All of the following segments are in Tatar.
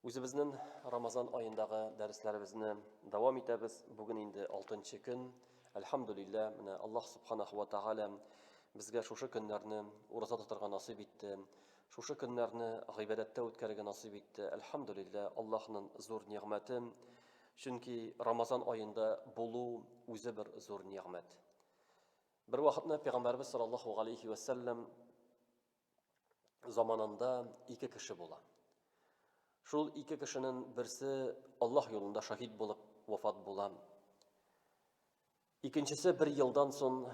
Үзебезнен Рамазан аендагы дәресләребезне дәвам итәбез. Бүген инде 6 нчы көн. Әлхәмдулиллә, менә Аллаһ Субханаху ва Тааля безгә шушы көннәрне ураза тотарга насыйп итте. Шушы көннәрне гыйбадәттә үткәрергә насыйп итте. Әлхәмдулиллә, Аллаһның зур нигъмәте. Чөнки Рамазан аенда булу үзе бер зур нигъмәт. Бер вакытны Пәйгамбәрбез саллаллаһу алейхи ва саллям заманында ике кеше була. Шул ике кешенең берсе Аллаһ юлында шаһид булып вафат була. Икенчесе бер елдан соң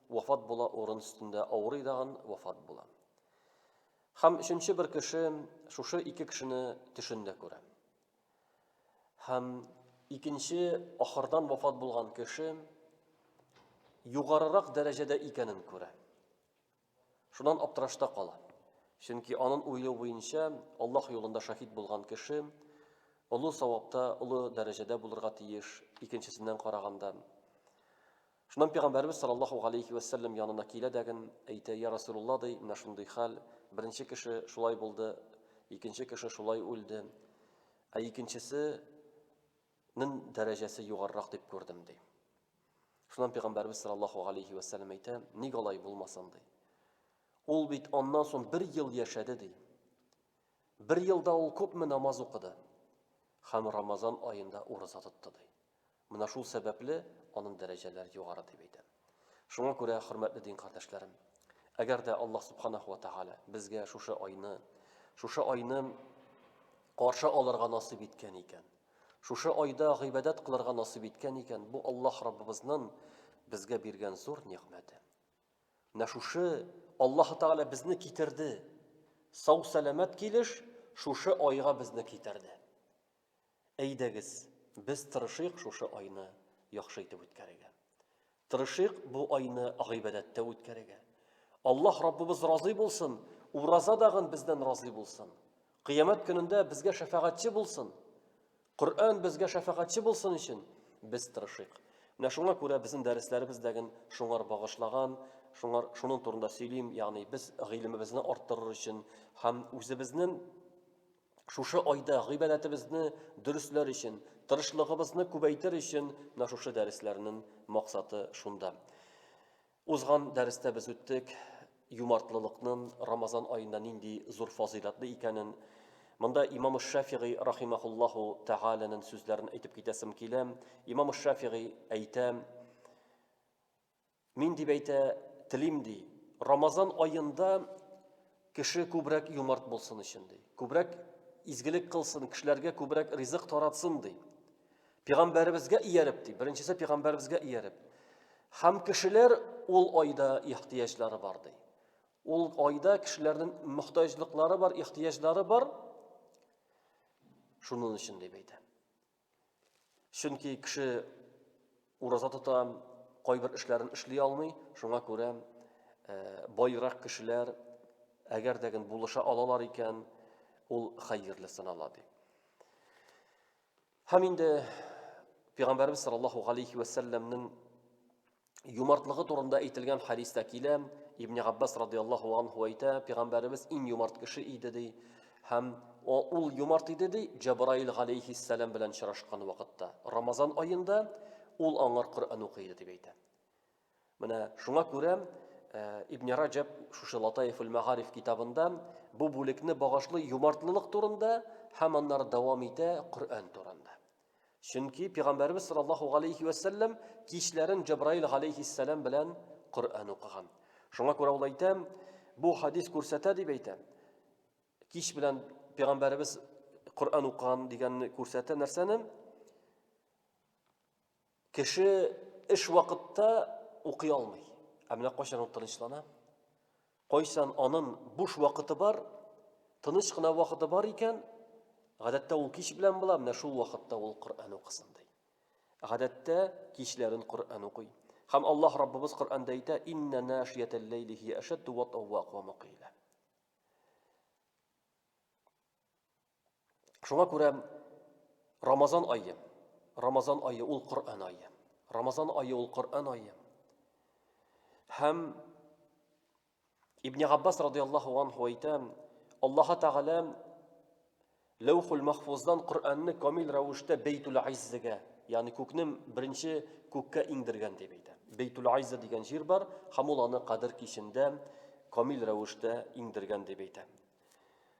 вафат була, урын өстендә авырый даган вафат була. Хәм өченче бер кеше шушы ике кешене төшендә күрә. Хәм икенче ахырдан вафат булган кеше югарырак дәрәҗәдә икәнен күрә. Шуннан аптырашта кала. Чөнки анын уйлыу буенча, Аллаһ юлында шаһит булган кеше олы савапта, олы дәрәҗәдә булырга тиеш, икенчесеннән караганда. Шуннан пәйгамбәрбез саллаллаһу алейхи ва саллям янына килә дәген, әйтә, я Расулулла ди, менә шундый хәл, беренче кеше шулай булды, икенче кеше шулай үлде. Ә икенчесе Нең дәрәҗәсе югарырак дип күрдем, ди. Шуннан пәйгамбәрбез саллаллаһу алейхи ва сәлләм әйтә, ник алай булмасын, ди. Ул бит аннан соң бер ел яшәде, ди. Бер елда ул күпме намаз укыды һәм Рамазан аенда ураза тотты, ди. Менә шул сәбәпле аның дәрәҗәләре югары дип әйтә. Шуңа күрә, хөрмәтле дин кардәшләрем, әгәр дә Аллаһ субханаһу ва тааля безгә шушы айны, шушы айны каршы алырга насыйп иткән икән, Шушы айда гыйбадәт кылырга насыйп иткән икән, бу Аллаһ Раббыбызнын безгә биргән зур нигъмәте. Менә шушы Аллаһ Тәгалә безне китерде. Сау-сәламәт килеш шушы айга безне китерде. Әйдәгез, без тырышыйк шушы айны яхшы итеп үткәрергә. Тырышыйк бу айны гыйбадәттә үткәрергә. Аллаһ Раббыбыз разый булсын, ураза дагын бездән разый булсын. Кыямәт көнендә безгә шәфәгатьче булсын. Коръән безгә шәфәгатьче булсын өчен без тырышыйк. Менә шуңа күрә безнең дәресләребездәген шуңар багышлаган, шуңар шуның турында сөйлим, ягъни без гыйлемебезне арттырыр өчен һәм үзебезнең Шушы айда гыйбадәтебезне дөресләр өчен, тырышлыгыбызны күбәйтер өчен менә шушы дәресләрнең максаты шунда. Узган дәрестә без үттек юмартлылыкның Рамазан аенда нинди зур фазыйлатлы икәнен. Монда имам Шафигый рахимахуллаху тәгаләнең сүзләрен әйтеп китәсем килә. Имам Шафигый әйтә, Мин дип әйтә, телим ди. Рамазан аенда кеше күбрәк юмарт булсын өчен ди. Күбрәк изгелек кылсын, кешеләргә күбрәк ризык таратсын ди. Пигамбәребезгә ияреп ди. Беренчесе пигамбәребезгә ияреп. Хәм кешеләр ул айда ихтияҗлары бар ди. Ул айда кешеләрнең мөхтаҗлыклары бар, ихтияҗлары бар. Шуның өчен дип әйтә. Чөнки кеше ураза тота, кайбер эшләрен эшли алмый, шуңа күрә э, байрак кешеләр әгәр дә гел булыша алалар икән, ул хәерле санала ди. Һәм инде Пәйгамбәрбез саллаллаһу алейхи ва сәлламнең юмартлыгы турында әйтелгән хадиста килә ибн габбас радиаллаху анху әйтә пәйгамбәребез иң юмарт кеше иде ди һәм ул юмарт иде ди җабраил галәйһиссәлам белән очрашкан вакытта рамазан аенда ул аңар коръән укый иде дип әйтә менә шуңа күрә э, ибн раҗаб шушы латаиф ул мәгариф китабында бу бүлекне багышлый юмартлылык турында һәм аннары дәвам итә коръән турында Чөнки пәйгамбәрбез саллаллаһу галәйһи ва сәлләм кичләрен Җәбраил галәйһиссәлам белән Коръән укыган. Шуңа күрә ул әйтә, бу хадис күрсәтә дип әйтә. Кич белән пәйгамбәрбез Коръән укыган дигәнне күрсәтә нәрсәне? Кеше эш вакытта укый алмый. Ә менә кайчан ул тынычлана? Кайчан анын буш вакыты бар, тыныч кына вакыты бар икән, гадәттә ул кич белән була, менә шул вакытта ул Коръән укысын ди. Гадәттә кичләрен Коръән укый. Хәм Аллаһ Раббыбыз Коръәндә әйтә: "Инна нашиятәл ләйли хи ашадду ва таввак ва мукила". Шуңа күрә Рамазан айы, Рамазан айы ул Коръән айы. Рамазан айы ул Коръән айы. Һәм Ибн Габбас радиаллаһу анху әйтә, Аллаһ Тәгалә Ләүхул Махфуздан Коръәнне камил рәвештә Бейтул Айззегә, ягъни күкнең беренче күккә иңдергән дип әйтә. Бейтул Айзза дигән җир бар, һәм ул аны Кадер кичендә камил рәвештә иңдергән дип әйтә.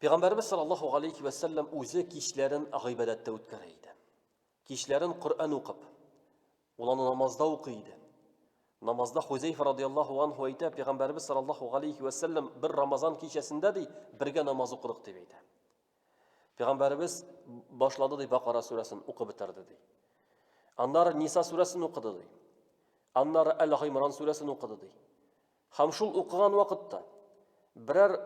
Пәйгамбәрбез саллаллаһу алейхи вә сәлләм үзе кичләрен гыйбадәттә үткәрә иде. Кичләрен Коръән укып, ул аны намазда укый иде. Намазда Хузейфа радияллаһу анху әйтә, Пәйгамбәрбез саллаллаһу алейхи вә сәлләм бер Рамазан кичәсендә ди, бергә намаз укыдык дип әйтә. Пәйгамбәрбез башлады ди Бакара сүрәсен укып бетерде ди. Аннары Ниса сүрәсен укыды ди. Аннары Әл-Гыймран сүрәсен укыды ди. Һәм шул укыган вакытта, берәр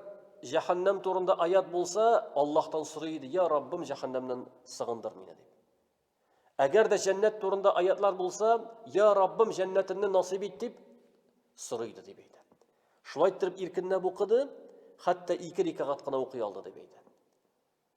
җәһәннәм турында аят булса, Аллаһтан сорый иде, я Раббым, җәһәннәмнән сыгындыр мине дип. Әгәр дә җәннәт турында аятлар булса, я Раббым, җәннәтемне насыйп ит дип сорый иде дип әйтә. Шулай итеп иркенләп укыды, хәтта ике рикагат кына укый алды дип әйтә.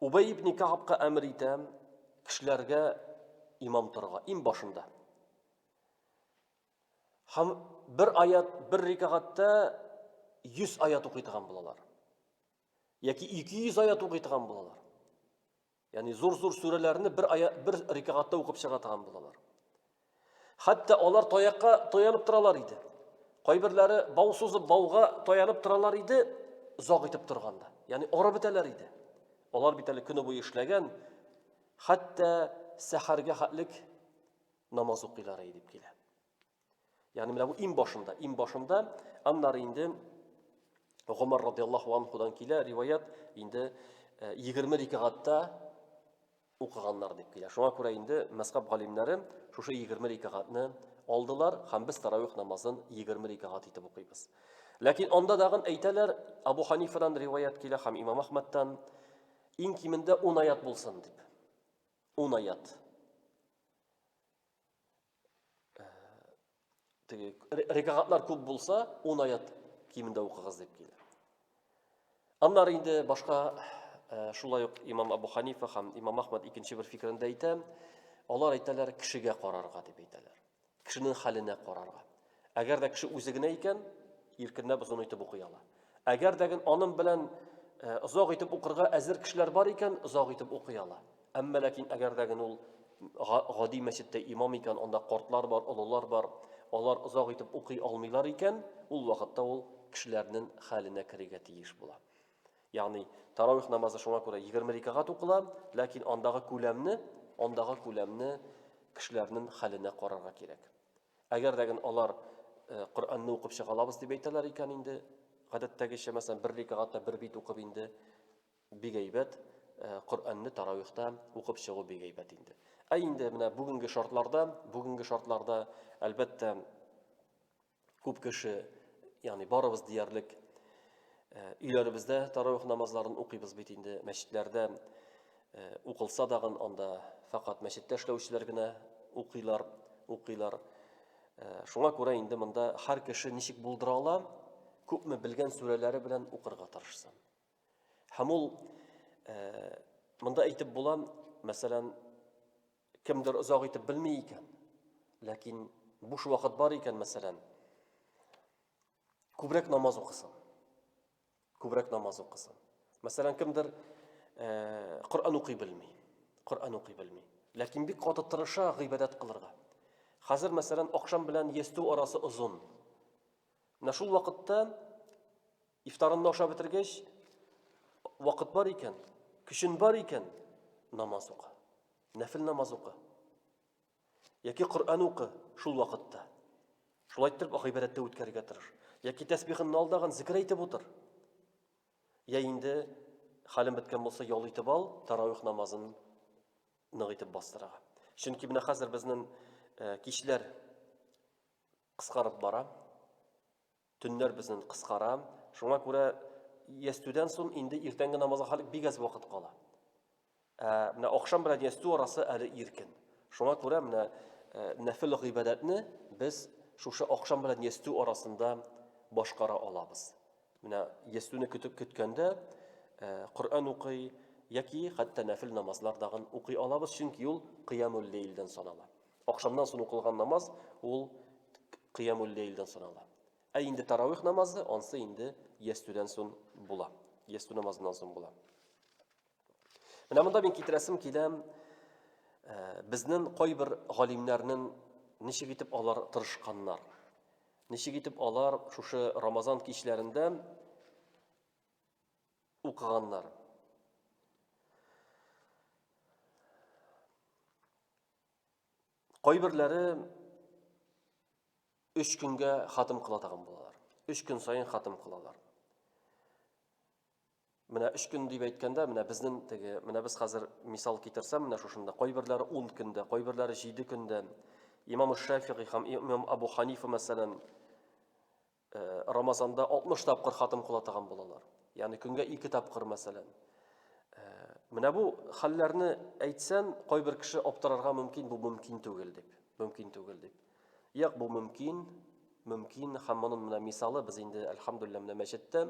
Убәй ибне Кәгабка әмер итә кешеләргә имам торырга, им башында. Һәм бер аят, бер рикагатьтә 100 аят укый торган булалар. Яки 200 аят укый торган булалар. Ягъни зур-зур сүрәләрне бер аят, бер рикагатьтә укып чыга торган булалар. Хәтта алар таякка таянып торалар иде. Кайберләре бау сузып бауга таянып торалар иде, заг итеп торганда. Яни арып бетәләр иде. Алар бит әле көне буе эшләгән, хәтта сәхәргә хәтлек намаз укыйлар дип килә. Ягъни менә бу иң башында, иң башында, аннары инде Гомар радиаллаһу анхудан килә риваят, инде 20 э, рикагатта укыганнар дип килә. Шуңа күрә инде мәскап галимнәре шушы егерме рикагатьне алдылар һәм без таравих намазын егерме рикагать итеп укыйбыз. Ләкин анда дагын әйтәләр, Абу Ханифадан риваят килә һәм Имам Ахмадтан иң кимендә 10 аят булсын дип. 10 аят. теге рекагатлар күп булса, 10 аят кимендә укыгыз дип килә. Аннары инде башка э, шулай ук имам Абу Ханифа һәм имам Ахмад икенче бер фикерендә әйтә, алар әйтәләр кешегә карарга дип әйтәләр. Кешенең хәленә карарга. Әгәр дә кеше үзе генә икән, иркенләп озын итеп укый ала. Әгәр дә аның белән э, озак итеп укырга әзер кешеләр бар икән, озак итеп укый ала. Әмма ләкин әгәр дә ул гади мәчеттә имам икән, анда картлар бар, олылар бар, алар озак итеп укый алмыйлар икән, ул вакытта ул кешеләрнең хәленә керергә тиеш була. Ягъни таравих намазы шуңа күрә 20 рикагат укыла, ләкин андагы күләмне, андагы күләмне кешеләрнең хәленә карарга кирәк. Әгәр дә генә алар Коръәнне укып чыга алабыз дип әйтәләр икән инде, гадәттәгечә, мәсәлән, бер рикагатта бер бит укып инде бик әйбәт, Коръәнне таравихта укып чыгу бик әйбәт инде. Ә инде менә бүгенге шартларда, бүгенге шартларда, әлбәттә, күп кеше, ягъни барыбыз диярлек өйләребездә таравих намазларын укыйбыз бит инде, мәчетләрдә Э, укылса дагын анда фәкать мәчеттә эшләүчеләр генә укыйлар, укыйлар. Э, шуңа күрә инде монда һәр кеше ничек булдыра ала, күпме белгән сүрәләре белән укырга тырышсын. Һәм ул э, монда әйтеп була, мәсәлән, кемдер озак итеп белми икән, ләкин буш вакыт бар икән, мәсәлән, күбрәк намаз укысын. Күбрәк намаз укысын. Мәсәлән, кемдер э, Коръән укый белми. Коръән укый белми. Ләкин бик каты тырыша гыйбадәт кылырга. Хәзер, мәсәлән, акшам белән ястү арасы озын. Менә шул вакытта ифтарынны ашап бетергәч, вакыт бар икән, көчен бар икән, намаз укы. Нәфил намаз укы. Яки Коръән укы шул вакытта. Шулай итеп гыйбадәттә үткәрергә тырыш. Яки тәсбихыңны ал дагын зикер әйтеп утыр. Я инде хален беткән булса ял итеп ал, таравих намазын нык итеп бастырага. Чөнки менә хәзер безнең э, кичләр кыскарып бара. Төннәр безнен кыскара, шуңа күрә ястүдән сон инде иртәнге намазга халик бик әз вакыт кала. Ә менә ахшам белән ястү арасы әле иркен. Шуңа күрә менә нәфел гыйбадәтне без шушы ахшам белән ястү арасында башкара алабыз. Менә ястүне көтеп көткәндә Коръән укый яки хәтта нәфел намазлар дагын укый алабыз, чөнки ул кыямул лейлдән санала. Ахшамнан соң укылган намаз ул кыямул лейлдән санала. Ә инде таравих намазы ансы инде ястүдән соң була. Ястү намазыннан соң була. Менә монда мин китерәсем килә, э, безнең кайбер галимнәрнең ничек итеп алар тырышканнар. Ничек итеп алар шушы Рамазан кичләрендә укыганнар. Кайберләре өч көнгә хатым кыла тагын булалар. Өч көн сайын хатым кылалар. Менә өч көн дип әйткәндә, менә безнең теге, менә без хәзер мисал китерсәм, менә шушында кайберләре 10 көндә, кайберләре 7 көндә. Имам Шафигый һәм Имам Абу Ханифа мәсәлән Э, рамазанда 60 тапкыр хатым кулатаган булалар. Ягъни көнгә 2 тапкыр мәсәлән. Э, менә бу хәлләрне әйтсәм, кайбер кеше аптырарга мөмкин, бу мөмкин түгел дип. Мөмкин түгел дип. Як бу мөмкин, мөмкин һәм моның менә мисалы без инде альхамдулилла менә мәчеттә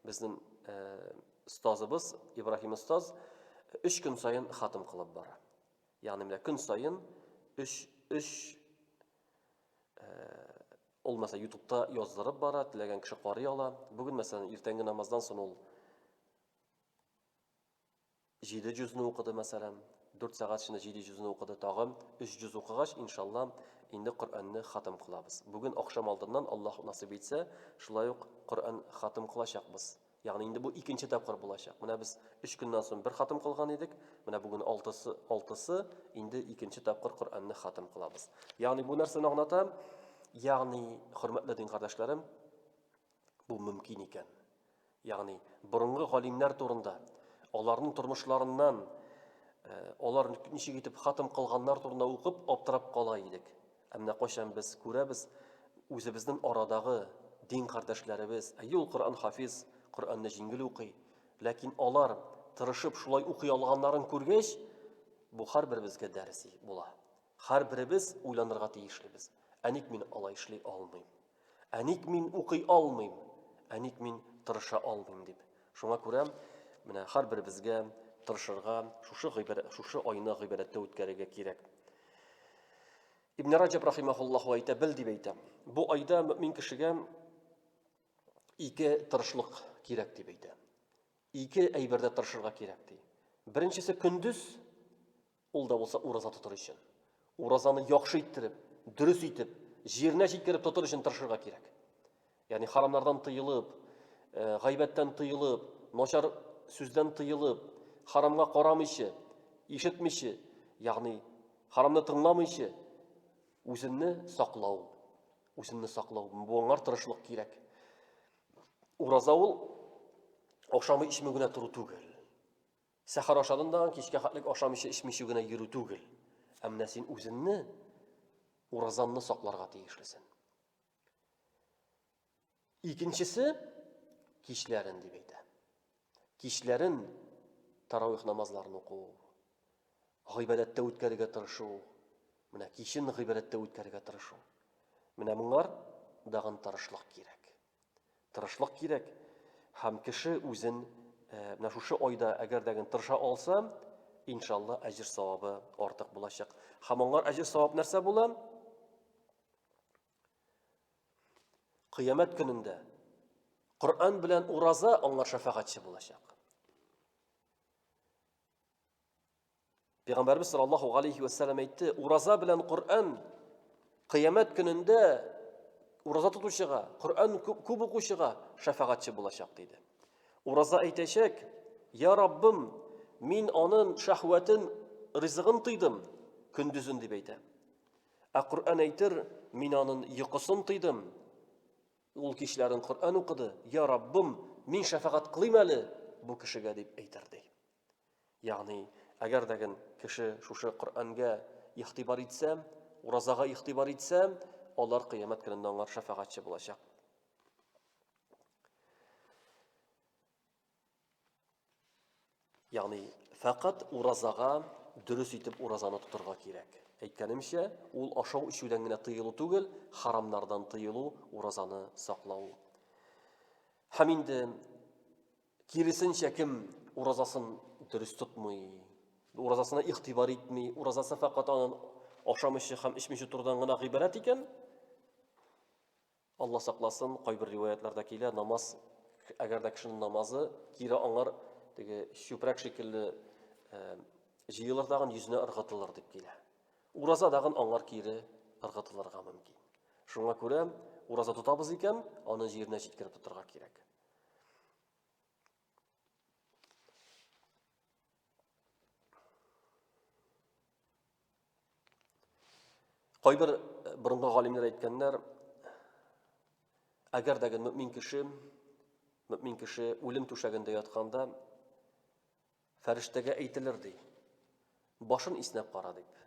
безнең э, остазыбыз Ибраһим остаз 3 көн саен хатым кылып бара. Ягъни менә көн саен 3 3 Ул мәсәлән ютубта яздырып бара, теләгән кеше карый ала. Бүген мәсәлән иртәнге намаздан соң ул җиде җөзне укыды мәсәлән, дүрт сәгать эчендә җиде җөзне укыды, тагын өч җөз укыгач, иншалла, инде Коръәнне хатым кылабыз. Бүген ахшам алдыннан Аллаһ насыйп итсә, шулай ук Коръән хатым кылачакбыз. Ягъни инде бу икенче тапкыр булачак. Менә без 3 көннән соң бер хатым кылган идек. Менә бүген алтысы, алтысы инде икенче тапкыр Коръәнне хатым кылабыз. Ягъни бу нәрсәне аңлата? Ягъни, хөрмәтле дин кардәшләрем, бу мөмкин икән. Ягъни, борынгы галимнәр турында, аларның тормышларыннан, э, алар ничек итеп хатым кылганнар турында укып аптырап кала идек. Ә менә кайчан без күрәбез, үзебезнең арадагы дин кардәшләребез, әйе ул Коръән хафиз, Коръәнне җиңел укый, ләкин алар тырышып шулай укый алганнарын күргәч, бу һәрберебезгә дәрес була. Һәрберебез уйланырга тиешлебез. Ә ник мин алай эшли алмыйм? Ә ник мин укый алмыйм? Ә ник мин тырыша алмыйм дип. Шуңа күрә менә һәрберебезгә тырышырга, шушы гыйбарә, шушы айны гыйбарәттә үткәрергә кирәк. Ибн Раҗаб рахимахуллаху әйтә, бел дип әйтә. Бу айда мөмин кешегә ике тырышлык кирәк дип әйтә. Ике әйбердә тырышырга кирәк ди. Беренчесе көндез Ул да булса ураза тотыр өчен. Уразаны яхшы иттереп, дөрес итеп, җиренә җиткереп тотыр өчен тырышырга кирәк. Ягъни харамнардан тыелып, э, гайбәттән тыелып, начар сүздән тыелып, харамга карамыйча, ишетмичә, ягъни харамны тыңламыйча үземне саклау, үземне саклау, буңар тырышлык кирәк. Ураза ул ашамы ичмегенә туры түгел. Сәхәр ашадым дагын кичкә хәтлек ашамыйча эчмичү генә йөрү түгел. Ә менә син үзеңне уразанны сакларга тиешлесен. Икенчесе кичләрен дип әйтә. Кичләрен таравих намазларын уку, гыйбадәттә үткәрергә тырышу, менә кичен гыйбадәттә үткәрергә тырышу. Менә моңар дагын тырышлык кирәк. Тырышлык кирәк. Һәм кеше үзен менә шушы айда әгәр дә тырыша алса, иншалла әҗер савабы артык булачак. Һәм аңар әҗер савап нәрсә була? Кыямәт көнендә Коръән белән ураза аңар шафагатьче булачак. Пәйгамбәрбез саллаллаһу алейхи ва сәлләм әйтте, ураза белән Коръән кыямәт көнендә ураза тотучыга, Коръән күп укучыга шәфәгатьче булачак диде. Ураза әйтәчәк, "Я Раббым, мин анын шәһвәтен, ризыгын тыйдым көндүзен", дип әйтә. Ә Коръән әйтер, "Мин анын йокысын тыйдым". Ул кичләрен Коръән укыды, "Я Раббым, мин шәфәгать кылыйм әле бу кешегә", дип әйтер ди. Ягъни, әгәр дә ген кеше шушы Коръәнгә игътибар итсә, уразага игътибар итсә, алар кыямәт көнендә аңар шәфәгатьче булачак. Ягъни, фәкать уразага дөрес итеп уразаны тотырга кирәк. Әйткәнемчә, ул ашау ичүдән генә тыелу түгел, харамнардан тыелу, уразаны саклау. Һәм инде Киресенчә, кем уразасын дөрес тотмый, уразасына игътибар итми, уразасы фәкать анын ашамыйча һәм эчмичә тордан гына гыйбарәт икән, Алла сакласын, кайбер риваятларда килә, намаз, әгәр дә кешенең намазы кире аңар теге чүпрәк шикелле э, җыелыр тагын йөзенә ыргытылыр дип килә. Ураза дагын аңар кире ыргытылырга мөмкин. Шуңа күрә ураза тотабыз икән, аны җиренә җиткереп тотарга кирәк. Кайбер э, борынгы галимнәр әйткәннәр, әгәр дә мөмин кеше, мөмин кеше үлем түшәгендә ятканда фәрештәгә әйтелер ди. Башын иснәп кара дип.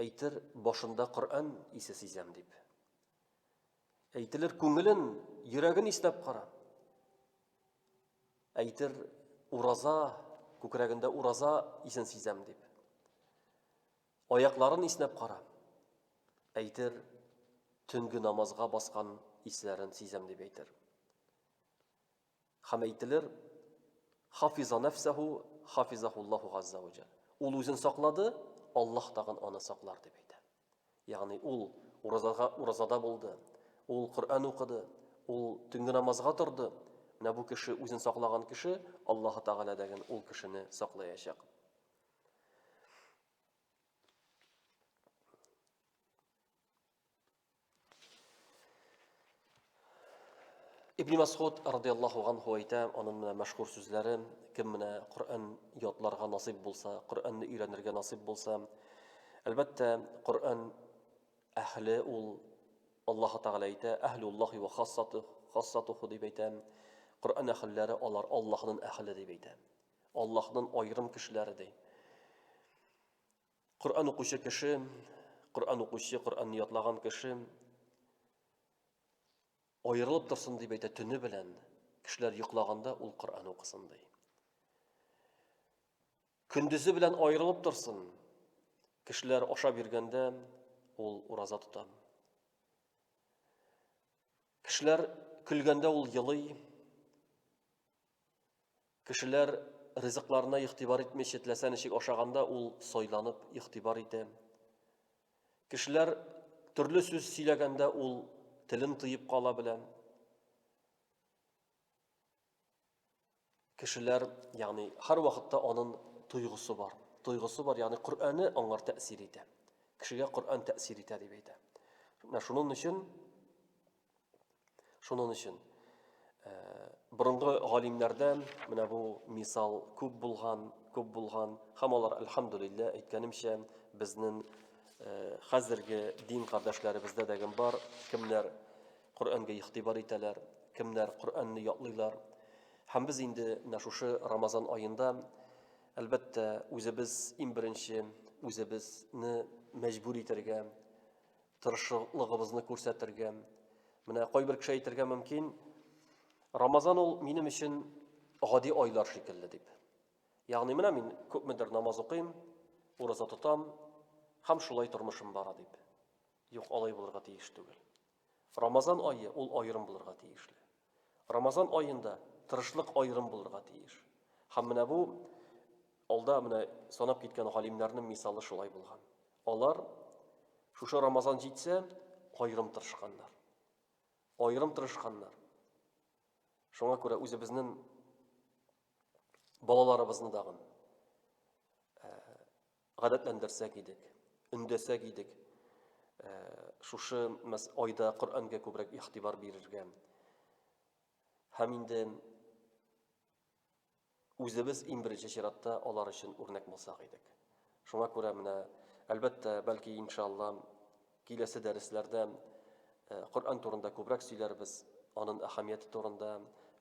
Әйтер, башында Коръән исе сизәм, дип. Әйтелер, күңелен, йөрәген иснәп кара. Әйтер, ураза, күкрәгендә ураза исен сизәм, дип. Аякларын иснәп кара. Әйтер, төнге намазга баскан исләрен сизәм, дип әйтер. Һәм әйтелер, Хафиза нәфсәһү, хафизаһуллаһу газза вә жәл. Ул үзен саклады, Аллаһ тагын аны саклар, дип әйтә. Ягъни ул уразага уразада булды, ул Коръән укыды, ул төнге намазга торды. Менә бу кеше үзен саклаган кеше, Аллаһ Тәгалә дәген ул кешене саклаячак. Ибн Масгуд радиаллаху анху әйтә, аның менә мәшһүр сүзләре, кем менә Коръән ятларга насыйп булса, Коръәнне өйрәнергә насыйп булса, әлбәттә, Коръән әһле ул Аллаһ Тәгалә әйтә, әһлуллахи ва хассату, хассатуху дип әйтә. Коръән әһелләре алар Аллаһның әһеле дип әйтә. Аллаһның аерым кешеләре ди. Коръән укучы кеше, Коръән укучы, Коръәнне ятлаган кеше аерылып торсын дип әйтә төне белән, кешеләр йоклаганда ул Коръән укысын ди. Көндезе белән аерылып торсын. Кешеләр ашап йөргәндә ул ураза тота. Кешеләр көлгәндә ул елый. Кешеләр ризыкларына игътибар итми читләсә ничек ашаганда ул сойланып игътибар итә. Кешеләр төрле сүз сөйләгәндә ул телен тыеп кала белә. Кешеләр, ягъни һәр вакытта анын туйгысы бар. Туйгысы бар, ягъни Коръәне аңар тәэсир итә. Кешегә Коръән тәэсир итә дип әйтә. Менә шуның өчен Шунын өчен борынгы галимнәрдән менә бу мисал күп булган, күп булган, һәм алар әлхәмдулиллә әйткәнемчә безнең хәзерге дин кардәшләребездә дәгем бар, кемнәр Коръәнгә игътибар итәләр, кемнәр Коръәнне ятлыйлар. Һәм без инде менә шушы Рамазан аенда әлбәттә үзебез иң беренче үзебезне мәҗбүр итәргә Тырышлыгыбызны күрсәтергә. Менә кайбер кеше әйтергә мөмкин, Рамазан ул минем өчен гади айлар шикелле дип. Ягъни менә мин күпмедер намаз укыйм, ураза тотам, һәм шулай тормышым бара дип. Юк, алай булырга тиеш түгел. Рамазан айы ул аерым булырга тиешле. Рамазан аенда тырышлык аерым булырга тиеш. Һәм менә бу алда менә санап киткән галимнәрнең мисалы шулай булган. Алар шушы Рамазан җитсә, аерым тырышканнар. Аерым тырышканнар. Шуңа күрә үзебезнең балаларыбызны дагын гадәтләндерсәк идек, өндәсәк идек, э, шушы мәс айда Коръәнгә күбрәк игътибар бирергә. Һәм инде үзебез иң беренче чиратта алар өчен үрнәк булсак идек. Шуңа күрә менә, әлбәттә, бәлки иншалла Киләсе дәресләрдә Коръән турында күбрәк сөйләрбез, анын әһәмияте турында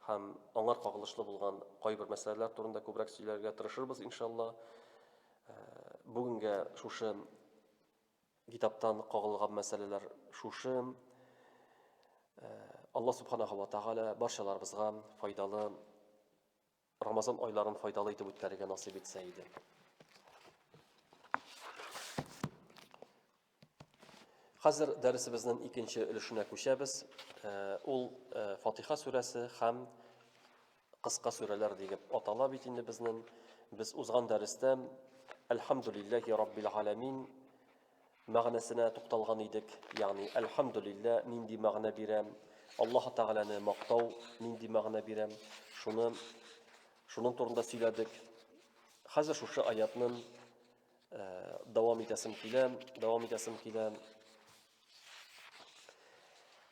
һәм аңар кагылышлы булган кайбер мәсьәләләр турында күбрәк сөйләргә тырышырбыз, иншалла. Бүгенгә шушы китаптан кагылган мәсьәләләр шушы. Алла субханаһу ва тагала барчаларыбызга файдалы Рамазан айларын файдалы итеп үткәрергә насыйп итсә иде. Хәзер дәресебезнең икенче өлешенә күчәбез. Э, ул э, Фатиха сүрәсе һәм кыска сүрәләр дигәп атала бит инде безнең. Без узган дәрестә Әлхәмдулиллахи раббил аламин мәгънәсенә тукталган идек, ягъни әлхәмдүлиллә нинди мәгънә бирә, Аллаһ Тәгаләне мактау нинди мәгънә бирә, шуны шуның турында сөйләдек. Хәзер шушы аятны дәвам итәсем килә, дәвам итәсем килә.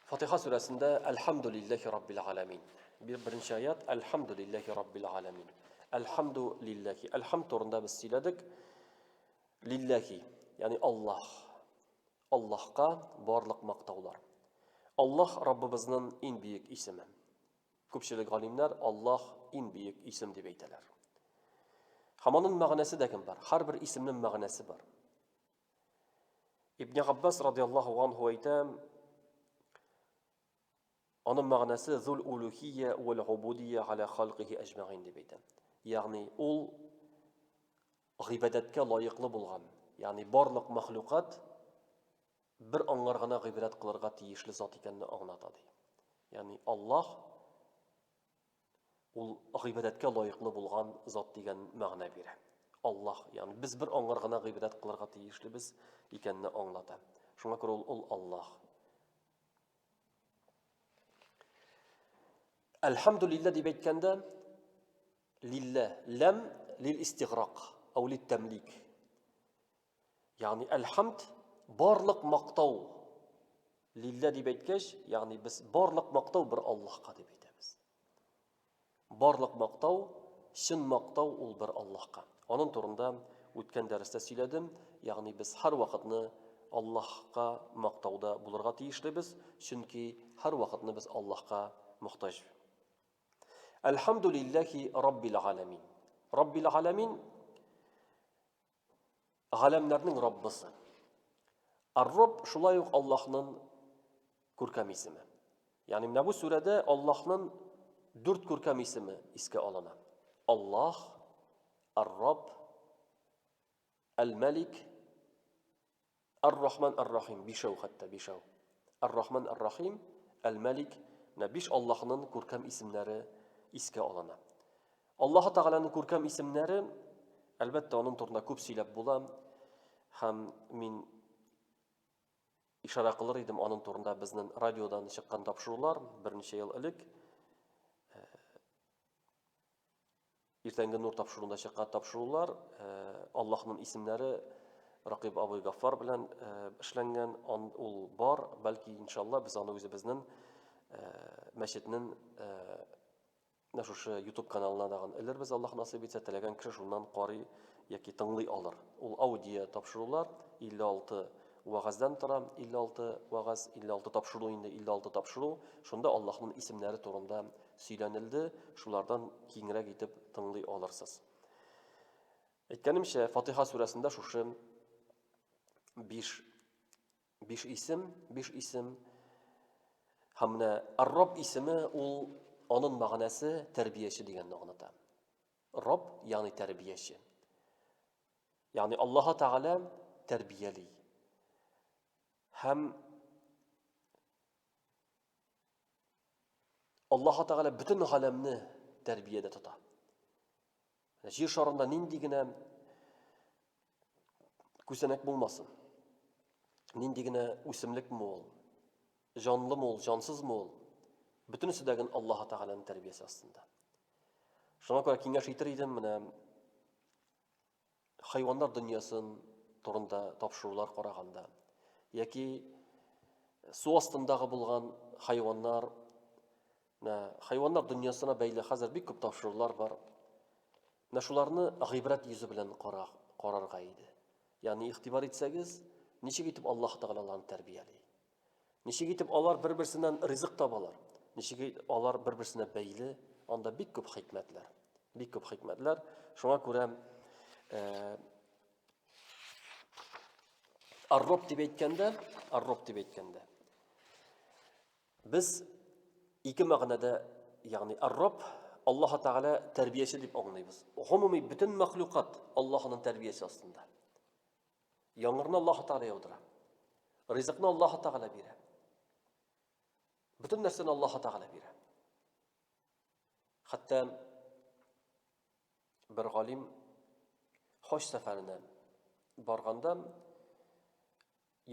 Фатиха сүрәсендә Әлхәмдүлилләһи раббил аламин. Беренче аят Әлхәмдүлилләһи раббил аламин. Әлхәмдүлилләһи. Әлхәм турында без сөйләдек. Лилләхи, ягъни Аллаһ. Аллаһка барлык мактаулар. Аллаһ Раббыбызның иң бөек исеме. Күпчелек галимнәр Аллаһ иң бөек исем дип әйтәләр. Һәм аның мәгънәсе дә кем бар? Һәрбер исемнең мәгънәсе бар. Ибн Габбас радиаллаһу анһу әйтә, аның мәгънәсе зул улухия вал убудия аля халкихи әҗмәгин дип әйтә. Ягъни ул гыйбадәткә лаеклы булган, ягъни барлык мәхлукат бер аңар гына гыйбрәт кылырга тиешле зат икәнне аңлата ди. Ягъни Аллаһ ул гыйбадәткә лаеклы булган зат дигән мәгънә бирә. Аллаһ, ягъни без бер аңар гына гыйбадәт кылырга тиешлебез икәнне аңлата. Шуңа күрә ул ул Аллаһ. Әлхәмдулиллаһ дип әйткәндә, Лиллә, ләм лил-истиграк, ау лит-тәмлик. Ягъни әл-хамд, барлык мактау. Лиллә дип әйткәч, ягъни без барлык мактау бер Аллаһка дип әйтәбез. Барлык мактау, чын мактау ул бер Аллаһка. Аның турында үткән дәрестә сөйләдем, ягъни без һәр вакытны Аллаһка мактауда булырга тиешлебез, чөнки һәр вакытны без Аллаһка мохтаҗ. Әлхәмдүлилләхи Раббил Галәмин. Раббил Галәмин Галәмнәрнең Раббысы. Ар-Рабб шулай ук Аллаһның күркәм исеме. Ягъни менә бу сүрәдә Аллаһның дүрт күркәм исеме искә алына. Аллаһ, Ар-Рабб, Әл-Мәлик, Әр-Рахман, Әр-Рахим, бишәү хәтта, бишәү. Әр-Рахман, Әр-Рахим, Әл-Мәлик, менә биш Аллаһының күркәм исемнәре искә алына. Аллаһы Тәгаләнең күркәм исемнәре, әлбәттә, аның турында күп сөйләп була, һәм мин ишарә кылыр идем аның турында безнең радиодан чыккан тапшырулар берничә ел элек. Иртәнге нур тапшыруында чыккан тапшырулар Аллаһның исемнәре Ракыйб абый Гаффар белән эшләнгән, ул бар, бәлки иншалла без аны үзебезнең мәчетнең менә шушы YouTube каналына дагын элербез, Аллаһ насыйп итсә, теләгән кеше шуннан карый яки тыңлый алыр. Ул аудио тапшырулар 56 Вәгазьдән тора 56 вәгазь, 56 тапшыру инде, 56 тапшыру. Шунда Аллаһның исемнәре турында сөйләнелде, шулардан киңрәк итеп тыңлый алырсыз. Әйткәнемчә, Фатиха сүрәсендә шушы 5 5 исем, 5 исем Һәм менә Рабб исеме ул аның мәгънәсе тәрбияче дигәнне аңлата. Рабб, ягъни тәрбияче. Ягъни Аллаһ Тәгалә тәрбияли. Һәм Аллаһ Тәгалә бөтен галәмне тәрбиядә тота. Җир шарында нинди генә күзәнәк булмасын. Нинди генә үсемлек мул, җанлы мул, җансыз мул, бөтенесе дә гын Аллаһ Тәгаләнең тәрбиясе астында. Шуңа күрә киңәш итер идем, менә хайваннар дөньясын турында тапшырулар караганда яки су астындагы булган хайваннар хайваннар дөньясына бәйле хәзер бик күп тапшырулар бар менә шуларны гыйбрәт йөзе белән карарга иде ягъни игътибар итсәгез ничек итеп аллаһ тәгалә аларны тәрбияли Ничек итеп алар бер-берсеннән ризык табалар? Ничек алар бер-берсенә бәйле? Анда бик күп хикмәтләр. Бик күп хикмәтләр. Шуңа күрә э, Арроб дип әйткәндә, арроб дип әйткәндә. Без ике мәгънәдә, ягъни арроб Аллаһ Тәгалә тәрбияче дип аңлыйбыз. Гомуми бөтен мәхлукат Аллаһның тәрбиясе астында. Яңгырны Аллаһ Тәгалә яудыра. Ризыкны Аллаһ Тәгалә бирә. Бөтен нәрсәне Аллаһ Тәгалә бирә. Хәтта бер галим хаҗ сәфәренә барганда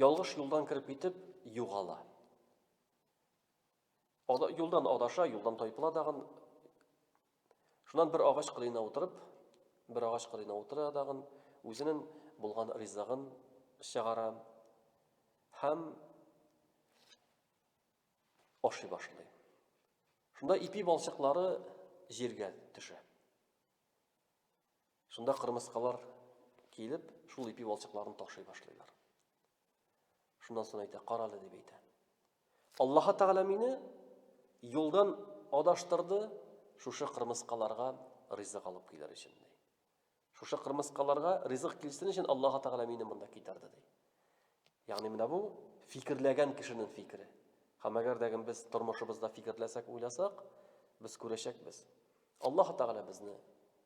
ялгыш юлдан кереп итеп югала. Ада, юлдан адаша, юлдан тайпыла дагын. Шуннан бер агач кырыена утырып, бер агач кырыена утыра дагын, үзенең булган ризыгын чыгара һәм ашый башлый. Шунда ипи балчыклары җиргә төшә. Шунда кырмыскалар килеп, шул ипи балчыкларын ташый башлыйлар. Шуннан соң әйтә, карале дип әйтә. Аллаһы Тәгалә мине юлдан адаштырды, шушы кырмыскаларга ризык алып килер өчен ди. Шушы кырмыскаларга ризык килсен өчен Аллаһы Тәгалә мине монда китерде ди. Ягъни менә бу фикерләгән кешенең фикере. Һәм әгәр дә без тормышыбызда фикерләсәк, уйласак, без күрәчәкбез. Аллаһы Тәгалә безне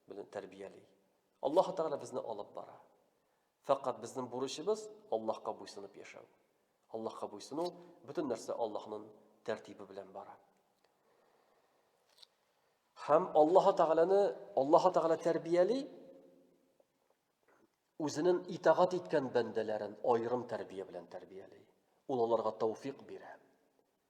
белән тәрбияли. Аллаһы Тәгалә безне алып бара. Фәкать безнең бурычыбыз Аллаһка буйсынып яшәү. Аллаһка буйсыну, бөтен нәрсә Аллаһның тәртибе белән бара. Һәм Аллаһ Тәгаләне, Аллаһ Тәгалә тәрбияли, үзенең итагат иткән бәндәләрен аерым тәрбия белән тәрбияли. Ул аларга тауфик бирә.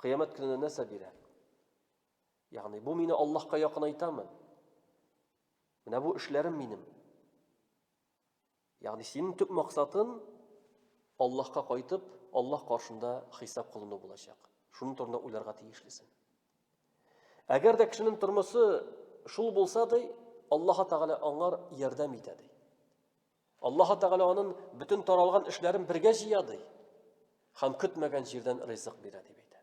Кыямәт көненә нәрсә бирә? Ягъни бу мине Аллаһка якынайтамы? Менә бу эшләрем минем. Ягъни синең төп максатын Аллаһка кайтып, Аллаһ каршында хисап кылыну булачак. Шуның турында уйларга тиешлесең. Әгәр дә кешенең тормысы шул булса ди, Аллаһ Тәгалә аңар ярдәм итә ди. Аллаһы Тәгалә анын бөтен таралган эшләрен бергә җыя ди һәм көтмәгән җирдән ризык бирә дип әйтә.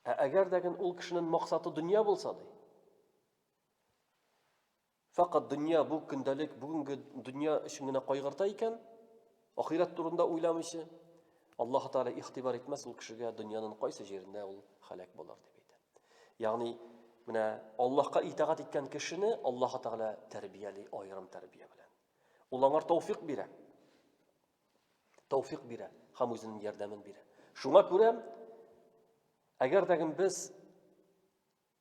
Ә әгәр дә ул кешенең максаты дөнья булса ди. Факат дөнья бу көндәлек бүгенге дөнья өчен генә кайгырта икән, Ахирәт турында уйламыйча, Аллаһ Тәгалә ихтибар итмәс ул кешегә дөньяның кайсы җирендә ул халәк булыр дип әйтә. Ягъни менә Аллаһка итагать иткән кешене Аллаһ Тәгалә тәрбияли аерым тәрбия белән. Ул аңар тауфик бирә. Тауфик бирә һәм үзенең ярдәмен бирә. Шуңа күрә әгәр дә без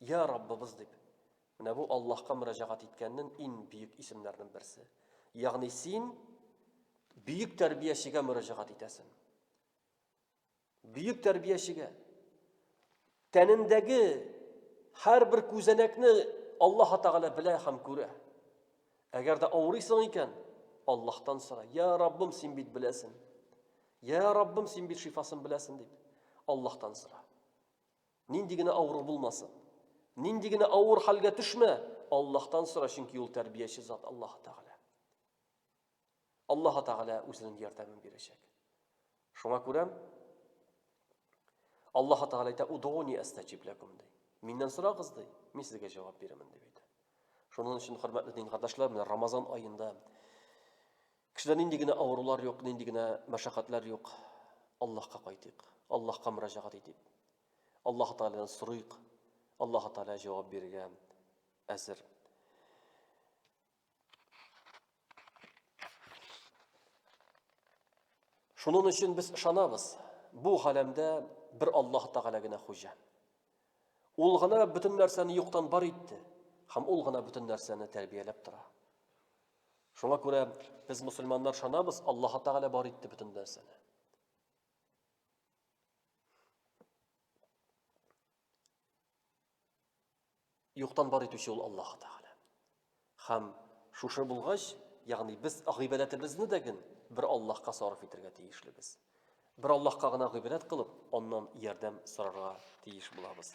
Йа Раббыбыз дип, менә бу Аллаһка мөрәҗәгать иткәннен ин бөек исемнәрнен берсе. Ягъни син бөек тәрбиячегә мөрәҗәгать итәсен. Бөек тәрбиячегә. Тәнендәге һәр бер күзәнәкне Аллаһ Тәгалә белә һәм күрә. Әгәр дә авырыйсың икән, Аллаһтан сора. Я Раббым, син бит беләсен. Я Раббым, син бит шифасын беләсен дип. Аллаһтан сора. Нинди генә авыру булмасын. Нинди генә авыр хәлгә төшмә, Аллаһтан сора, чөнки ул тәрбияче зат Аллаһ Тәгалә. Аллаһ Тәгалә үзенең ярдәмен бирәчәк. Шуңа күрә Аллаһ Тәгалә әйтә: "Удони астачип лакум" ди. Миннән сорагыз ди, мин сезгә җавап бирәмен дип әйтә. Шуның өчен хөрмәтле дин кардәшләр, менә Рамазан аенда Кешедә нинди генә авырулар юк, нинди генә мәшәкатьләр юк. Аллаһка кайтыйк. Аллаһка мөрәҗәгать итик. Аллаһ Тааладан сорыйк. Аллаһ Таала җавап бирергә әзер. Шунын өчен без ышанабыз, бу галәмдә бер Аллаһ Тәгалә генә хуҗа. Ул гына бөтен нәрсәне юктан бар итте, һәм ул гына бөтен нәрсәне тәрбияләп тора. Шуңа күрә без мусульманнар шанабыз, Аллаһ Тәгалә бар итте бөтен нәрсәне. Юктан бар итүче ул Аллаһ Тәгалә. Хәм шушы булгач, ягъни без гыйбадәтебезне дә ген бер Аллаһка сарыф итәргә тиешлебез. Бер Аллаһка гына гыйбадәт кылып, аннан ярдәм сорарга тиеш булабыз.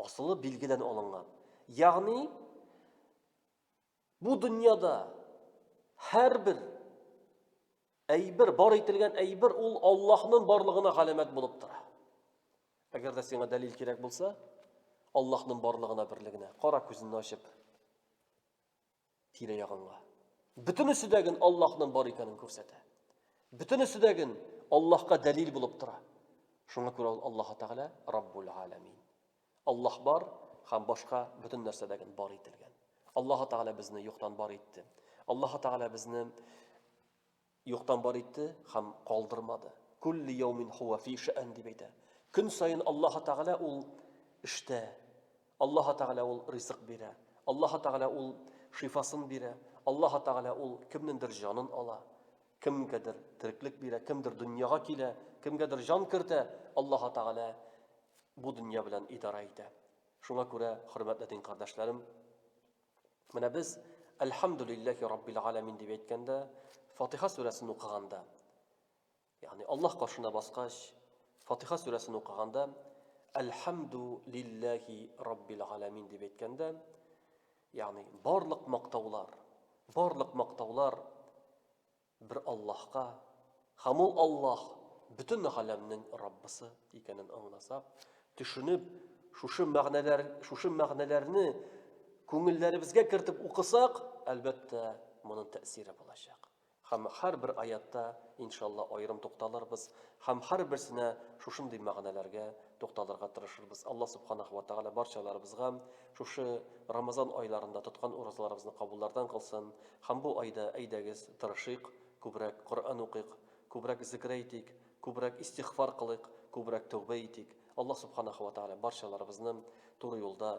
Асылы билгедән алынган. Ягъни, бу дөньяда һәрбер әйбер, бар ителгән әйбер ул Аллаһның барлыгына галәмәт булып тора. Әгәр дә сиңа дәлил кирәк булса, Аллаһның барлыгына берлегенә кара күзеңне ачып. Тирә-ягыңа. Бөтенесе дә ген Аллаһның бар икәнен күрсәтә. Бөтенесе дә ген Аллаһка дәлил булып тора. Шуңа күрә ул Аллаһ Тәгалә Раббул Аламин. Аллаһ бар һәм башка бөтен нәрсә дә ген бар ителгән. Аллаһ Тәгалә безне юктан бар итте. Аллаһ Тәгалә безне Юктан бар итте һәм калдырмады. Кулли яумин һуа фи шәән дип әйтә. Көн саен Аллаһы Тәгалә ул эштә. Аллаһы Тәгалә ул ризык бирә. Аллаһы Тәгалә ул шифасын бирә. Аллаһы Тәгалә ул кемнендер җанын ала. Кемгәдер тереклек бирә, кемдер дөньяга килә, кемгәдер җан кертә, Аллаһы Тәгалә бу дөнья белән идарә итә. Шуңа күрә, хөрмәтле дин кардәшләрем, Менә без Әлхәмдүлилләһи раббил галәмин дип әйткәндә, Фатиха сүрәсен укыганда, ягъни Аллаһ каршына баскач, Фатиха сүрәсен укыганда, Әлхәмду лилләһи раббил галәмин дип әйткәндә, ягъни барлык мактаулар, барлык мактаулар Бер Аллаһка, һәм ул Аллаһ, бөтен галәмнең Раббысы икәнен аңласак, төшенеп, шушы мәгънәләр, шушы мәгънәләрне күңелләребезгә кертеп укысак, әлбәттә, моның тәэсире булачак. Һәм һәрбер аятта, иншалла, аерым тукталырбыз һәм һәрберсенә шушындый мәгънәләргә тукталырга тырышырбыз. Алла Субханаху ва Тәгалә барчаларыбызга шушы Рамазан айларында тоткан уразаларыбызны кабуллардан кылсын һәм бу айда әйдәгез, тырышыйк, күбрәк Коръән укыйк, күбрәк зикер әйтик, күбрәк истигъфар кылыйк, күбрәк тәүбә итик. Алла Субханаху ва Тәгалә барчаларыбызны туры юлда